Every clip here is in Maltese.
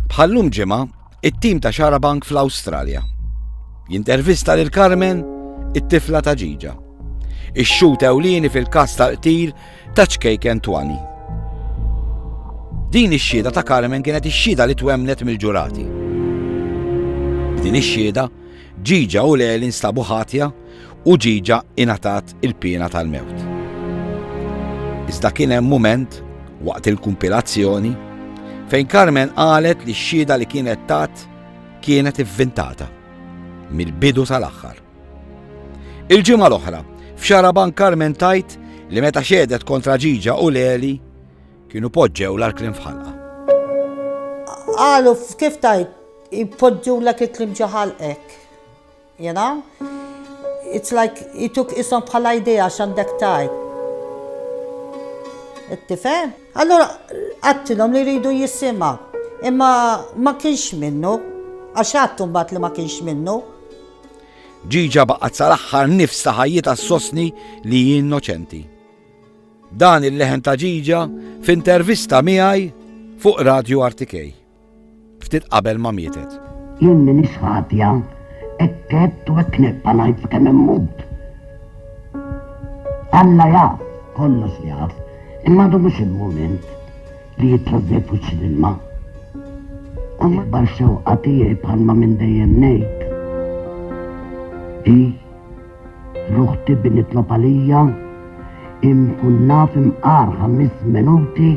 Bħallum ġimgħa, it-tim ta' Xarabank fl-Awstralja. Jintervista lil Carmen, it-tifla ta' ġiġa. Ix-xut ewlieni fil-każ tal-qtil ta' ċkejken twani. Din ix-xhieda ta' Carmen kienet ix-xhieda li twemnet mill-ġurati. Din ix-xhieda, ġiġa u leli nstabu ħatja u ġieġa ingħatat il-piena tal-mewt. Iżda kien hemm mument waqt il-kumpilazzjoni fejn Carmen qalet li x-xhieda li kienet tat kienet ivvintata mill-bidu tal-aħħar. Il-ġimgħa l-oħra, f'xaraban Carmen tajt li meta xedet kontra ġiġa u leli kienu poġġew l-arklim fħalqa. Għalu, kif tajt, poġġu l-ek iklim ġaħalqek. You know? It's like jituk ishom bħala idea x'għandek tgħid. Tifhem? Allura għattilhom li jridu jisimha. Imma ma kienx minnu, għax għattu mbagħad li ma kienx minnu. Ġiġa baqgħet sal-aħħar nifs ta' ħajjitha sostni li hi innoċenti. Dan il-leħen ta' ġiġa f'intervista miegħi fuq Radio Artikej. Ftit qabel ma mietet. Jien minix ħatja, hekk għedt u hekk nibqa' ngħid sakemm immut. Alla jaf, kollox jaf, imma għadu mhux il-mument li jitħoddej fuċċi l-ilma. U l-ikbar xewqa tiegħi bħalma minn dejjem ngħid hi L-uħti bi nitlob għalija inkun naf imqar ħamis menuti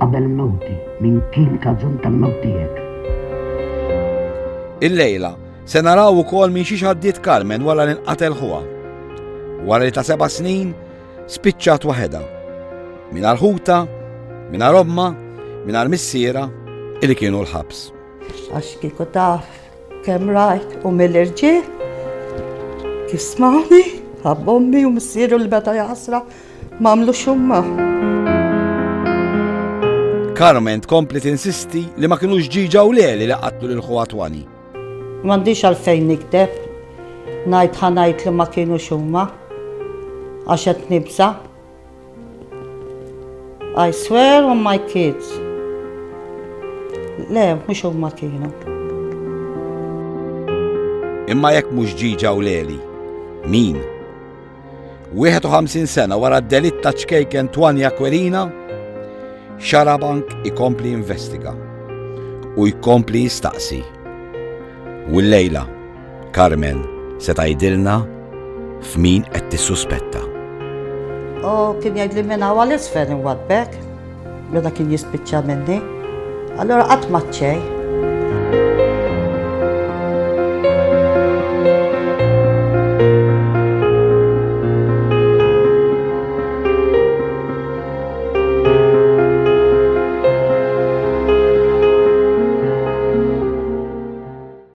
qabel mewti min kien kaġun tal-mewt tiegħek. Il-lejla se naraw ukoll minn xiex għaddiet Carmen wara li nqatel ħuha. Wara li ta' seba' snin spiċċat waħedha. Minar ħuta, minar omma, minar missiera illi kienu l-ħabs. Għax kieku taf Kemm rajt u mill-irġiel jismawni, ħabb ommi u missieru li meta jaħsra mamlu xumma. Carmen tkompli tinsisti li ma kinux ġiġa u leli li qatlu lil ħuha twani. M'għandix għalfejn nikdeb, ngħid ħanajt li ma kienu xumma għax qed nibża'. I swear on my kids. Le, mhux huma kienu. Imma jekk mhux ġiġa u leli, min? 51 sena wara d-delitt ta' ċkejken Twani Aquilina, Xarabank ikompli investiga u jkompli jistaqsi. U l-lejla, Carmen se tgħidilna f'min qed tissuspetta. U kien jgħidli minn hawn għal isfel inwaddbek meta kien jispiċċa minni. Allura qatt ma ċċej.